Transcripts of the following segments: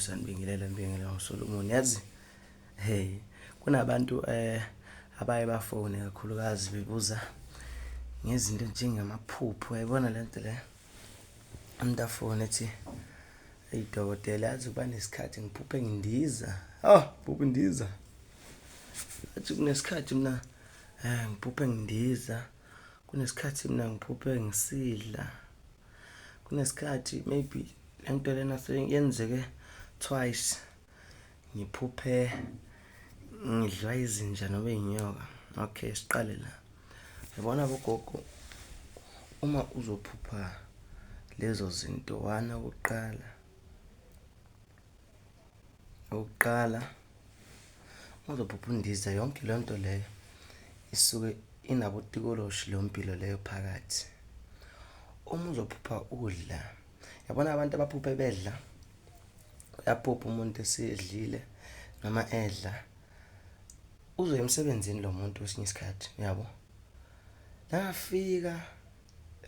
sanibingelela nibingelela uSolomon yazi hey kunabantu eh abaye bafone kakhulukazi bebuza ngezinto njengamaphupho yayibona le nto le umuntu afone ethi eyi dokotela yazi kuba nesikhathi ngiphuphe ngindiza oh phuphe ndiza athi kunesikhathi mina um ngiphuphe ngindiza kunesikhathi mina ngiphuphe ngisidla kunesikhathi maybe le nto lena yenzeke twice ngiphuphe ngidliwa izinja noma iy'nyoka okay siqale la yabona bogogo uma uzophupha lezo zinto one okokuqala Okokuqala uzophupha undiza yonke leyo nto leyo isuke inabotikoloshi leyo mpilo leyo phakathi. Uma uzophupha udla, yabona abantu abaphuphe bedla? Uyaphupha umuntu esedlile noma edla, uzoya emsebenzini lo muntu kwesinye isikhathi, uyabo? Nakafika.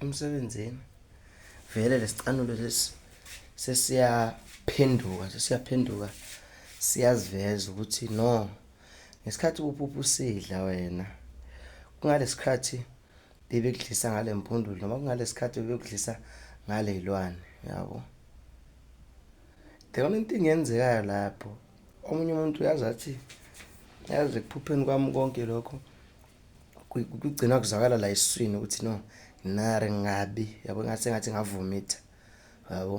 emsebenzini vele lesicanulo lesi sesiyaphenduka sesiyaphenduka siyaziveza ukuthi no ngesikhathi uphupha usidla wena kungalesikhathi bebekudlisa ngale mpundulu noma kungalesikhathi bebekudlisa ngale ilwane yabo the only thing yenzekayo lapho omunye umuntu uyazi athi yazi ekuphupheni kwami konke lokho kugcina kuzwakala la esiswini ukuthi no nare ngabi yabo ngathi sengathi ngavomitha yabo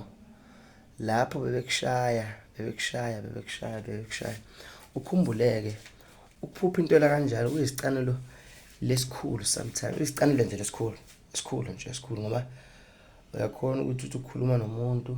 lapho bebekushaya bebekushaya bebekushaya bebekushaya ukhumbuleke ukuphupha into la kanjalo kuyisicanelo lesikhulu sometimes isicanelo nje lesikhulu esikhulu nje esikhulu ngoba uyakhona ukuthi uthi ukhuluma nomuntu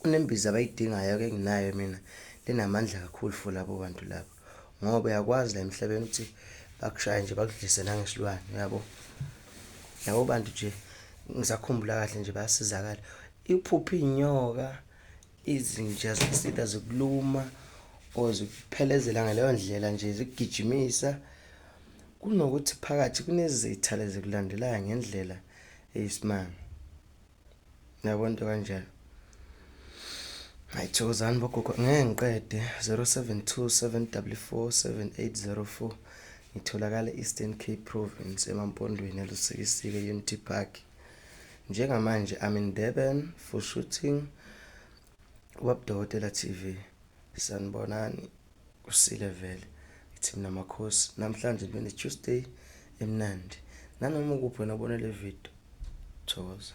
Kunembiza abayidingayo ke nginayo mina linamandla kakhulu for labo bantu labo ngoba uyakwazi la emhlabeni ukuthi bakushaye nje bakudlise nangesilwane uyabo labo bantu nje ngisakhumbula kahle nje bayasizakala iphupha inyoka izinja zisida zikuluma or zikuphelezela ngaleyo ndlela nje zigijimisa kunokuthi phakathi kunezitha lezi kulandelayo ngendlela eyisimanga Yabo into kanjena. Hayi thokozani bogogo ngeke ngiqede 0727447804 ngitholakala Eastern Cape Province emampondweni elusikisike Unity Park. Njengamanje I'm in Durban for shooting Wabdokotela TV. Sanibonani. kusile vele ithi mina makhosi namhlanje bene Tuesday emnandi nanoma ukuphi wena ubone le video thokoza